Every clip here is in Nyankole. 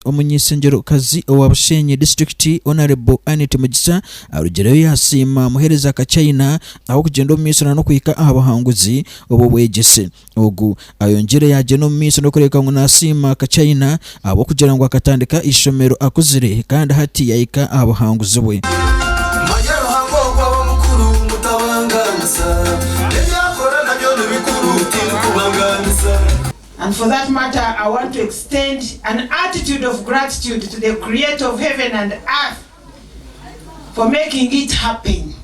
Omunyeshengyerokazi owa Bushenyi disiturikiti Honarebo Annet Mugisha arugireyo yasiima muheereza ka China ahabw'okugyenda omu maisho nana okuhika aha buhanguzi obw'obwegyese ogu. Ayongyire yagyenda omu maisho n'okureebeka ngu nasiima ka China ahabw'okugira ngu akatandika eishomero akuzire kandi hati yahika aha buhanguzi bwe. And for that matter I want to extend an attitude of gratitude to the creator of heaven and earth for making it happen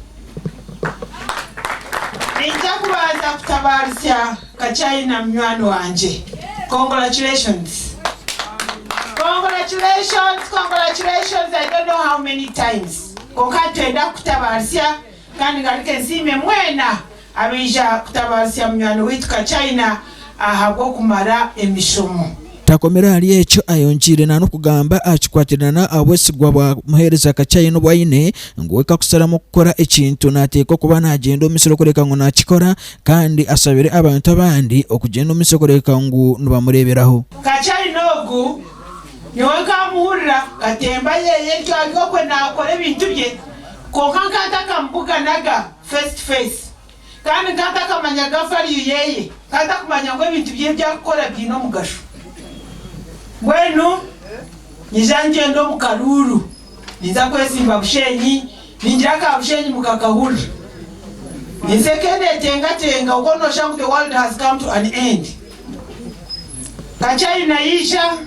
Ninja kubanza kutabarisya ka China munywani wangye Congratulations Congratulations Congratulations I don't know how many times kwonka nitwenda kukutabarisya kandi ngaruke nsiime mwena Abaija kutabaazisa munywani waitu Kachina ahabw'okumara emishomo. Takomire ahari ekyo, ayongiire nanokugamba aha kikwatirana ahabwesigwa bwa muheereza Kachina obu aine, ngu we kakusaramu kukora ekintu nateekwa okuba nagyenda omu misiri okureka ngu nakikora kandi asabire abantu abandi okugyenda omu misiri okureka ngu nibamureeberaho. Kachina ogu nyowe nkamuhurira katemba yeye ntyo ari okwe nakora ebintu bye kwonka nkantakamubuga naga. face to face kandi nka ntakamanyaga value yeye, nka ntakumanya ngu ebintu bye ebi arikukora biine omugasho. Mbwenu nyija nigyenda omu karuuru, ninza kwetsimba Bushenyi, ningira ka Bushenyi mu kakahurira. Ninza eka netengatenga obwo noshusha ngu the world has come to an end. Kacayina yaija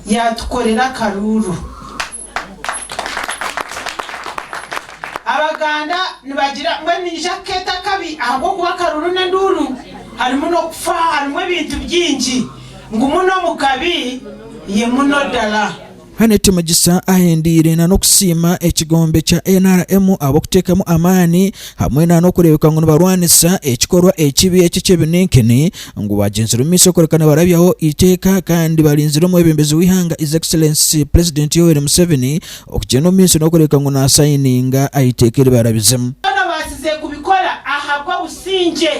yatukorera akaruuru. Abaganda nibagira ngu emiija kukeeta akabi ahabw'okuba akaruru n'enduuru harimu n'okufa harimu ebintu bingi ngu muno omu kabi ye muno dala. Annet Mugisa ahendiire na n'okusiima ekigombe kya nrm ahabw'okuteekamu amaani hamwe na n'okureebeka ngu nibarwanisa ekikorwa ekibi eki eky'ebininkini ngu baagyenzire omu maisho kureka nibarabyaho eiteeka kandi barinzire omwebembezi w'eihanga His Excellency Pulezidenti Yoweri Museveni okugyenda omu maisho n'okureebeka ngu naasayininga aha iteeka eri barabizemu. Byona baatsize kubikora ahabw'obusingye.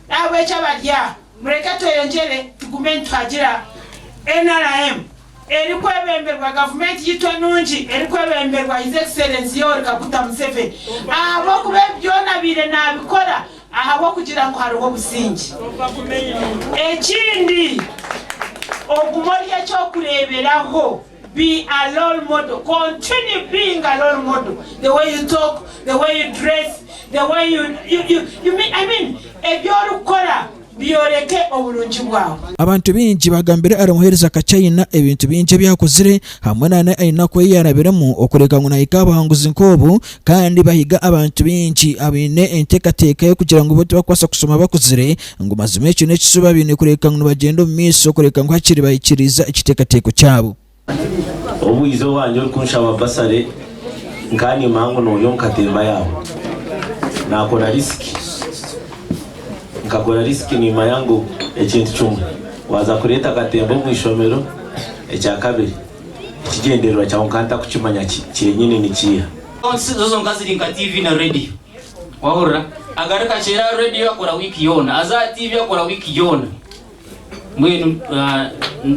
Ahabw'ekyo abarya mureke tweyongyere tugume nituhagira. Nrm. erikwebemberwa gavumenti yaitu enungi erikwebemberwa His Excellency Yoweri Kaguta Museveni ahabw'okuba ebi byona abaire naabikora ahabw'okugira ngu hariho obusingye. Ekindi ogume ori eky'okureeberaho, be a role model, continue being a role model, the way you talk, the way you dress, the way you, you, you, you mean, I mean ebi orikukora Byoreke oburungi bwawe. Abantu baingi bagambire ari muhereza kakye aina ebintu bingi ebi akozire hamwe nana enaku eyi yarabiremu okureka ngu nahiga abahanguzi nk'obu kandi bahiga abantu baingi abaine entekateka y'okugira ngu bo tibakubaasa kushoma bakuzire ngu mazima ekyo n'ekishuba baine kureka ngu nibagyenda omu maiso kureka ngu hakiri bahikiriiza ekitekateko kyabo. Obu ize owange orikunshaba basare, nkanyema ngu nooya omu katemba yaawe. Naakora risiki. Nkakora risiki nimmanya ngu ekintu kimwe waaza kureeta akatemba omu ishomero, ekya kabiri tikigyendererwa kyawe nkaba ntarikukimanya ki kyenyini nikiiha. Zo zonka ziri nka tiivi na reediyo. Waahurira? Agaruka kyeera aha reediyo akora wiiki yoona, aza aha tiivi akora wiiki yoona. Mbwenu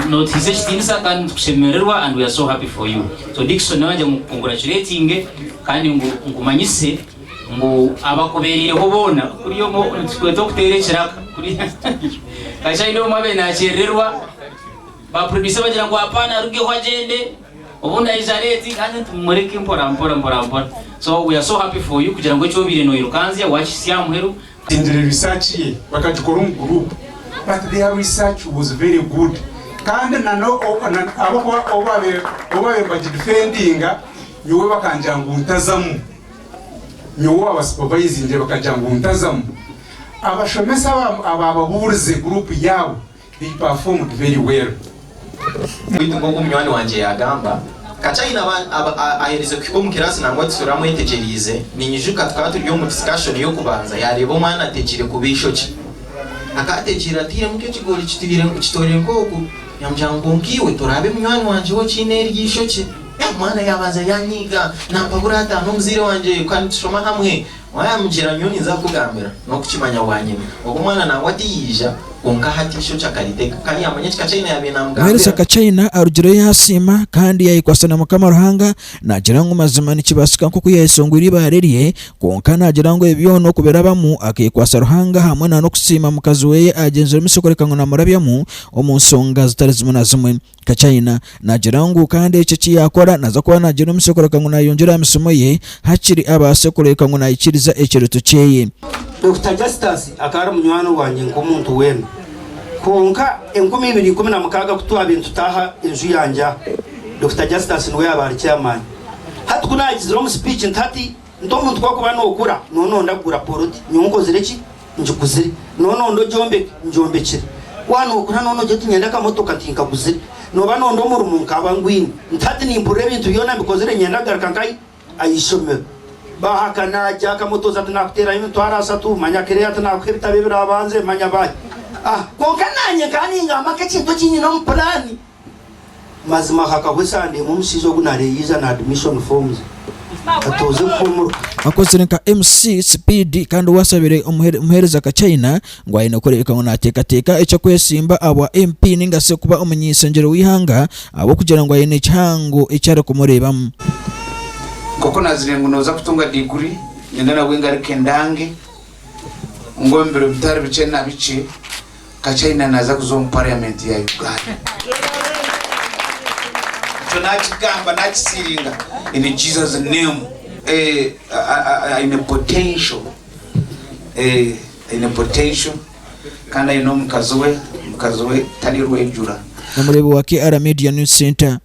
notihiza ekitiinisa kandi nitukushemererwa and we are so happy for you. So Dickson nawe nagya ngu congratulatinge kandi ngu nkumanyise ngu abakubereireho boona kuriya omwe nikikweeta okuteera ekiraka kuriya kasha haine omwe abaire nakyerererwa ba producer bagira ngu hapana arugeho agyende obundi aija late kandi nti mumureke mporampora mporampora so we are so happy for you kugira ngu eki obaire noyirukanzya wakihitsya aha muheru Bagyendire research ye bakagikora omu group but their research was very good kandi ahabw'okuba obubabire nibagidefendinga nyowe bakangira ngu ntazamu nyowe owaba supervisingire bakagira ngu ntazamu abashomesa abababurize group yaabo They performed very well baitu nk'oku munywani wangye yaagamba, ka China aherize kuhika omu kiraasi nangwa tusure amwetegyereize, ninyijuka tukaba turi omu discussion y'okubanza yaareeba omwana ategiire kubi eishookye, akaba ategiire atairemu nk'ekigoori kitoire nk'oku, yaamugira ngu kwonka iwe toraabe munywani wangye waaba okiine eryo eishookye, omwana yaabanza yaanyiiga naampa buri ataano omuzaire wangye kandi tushoma hamwe. Waayamugira nyowe ninza kukugambira, n'okukimanya waanyimya. Ogwo mwana nangwa tiyaija, kwonka hati eishookye akaritega, kandi yaamanya ekika China yaabaire naamugambira. Mwene ka China arugireyo yaasiima kandi yaayekwatsa na Mukama Ruhanga, naagira ngu mazima nikibaasika nk'oku yaayeshongwire eibaare rye, kwonka naagira ngu ebi byona okubirabamu akeekwatsa Ruhanga hamwe n'okusiima mukazi we agyenziremu shi kureka ngu naamurabyamu omu nshonga zitari zimwe na zimwe. Ka China naagira ngu kandi eki eki yaakora naaza kuba naagira omusyo kureka ngu naayongyera aha misimo ye hakiri abaase kureka ngu naikiriza ekirooto kyeye. Dokita Justus akaba ari munywani wangye nk'omuntu weena. Kwonka enkumi ibiri ikumi na mukaaga ku twaabaire nitutaaha enju yangye aha, Dokita Justus niwe yaabaire ari chairman. Hati ku naagizire omu speech nti hati, Nk'omuntu ku orikuba nookura, nooba nooyenda kugura poloti, nyowe nkozire ki? Ngiguzire. Nooba nooyenda ogyombeke? Ngyombekire. Waaba nookura nooba noogira oti, Niinyenda akamotoka, tinkaguzire. Nooba nooyenda omurimo? Nkaaba ngwine. Nti hati nimpurira ebintu byona mbikozire, niinyenda kugaruka nk'aha aha ishomero. Baahaka naagya, akamotoza ati, Naakuteeraho emitwaro ashatu. Manya kireeya ati, Naakuha ebitabo ebiraabanze. Manya baahi? Aha. Kwonka naanye nkaba ningamba nk'ekintu eki nyine omu puraani. Mazima hakaba esande emwe omushaija ogu nareyiija na admission form ze atuuza efuumuruka. Akozire nka MC sipiidi kandi waashabire omuheereza ka China ngu aine kureebeka ngu naateekateeka eky'okwesimba aha bwa MP nainga shi kuba omunyenshangyero w'eihanga ahabw'okugira ngu aine ekihango eki arikumureebamu. Nk'oku naazire ngu nooza kutunga diguri, niinyenda nabwe ngaruke ndange ngu omu biro bitari bikye na bikye, Ka China naza kuza omu parliament ya Uganda. Ekyo nakigamba nakisiringa in Jesus name. Eeh aine potential eeh aine potential kandi aine omukazi we, omukazi we tari rwejura. Omureebi wa KR Media News Centre.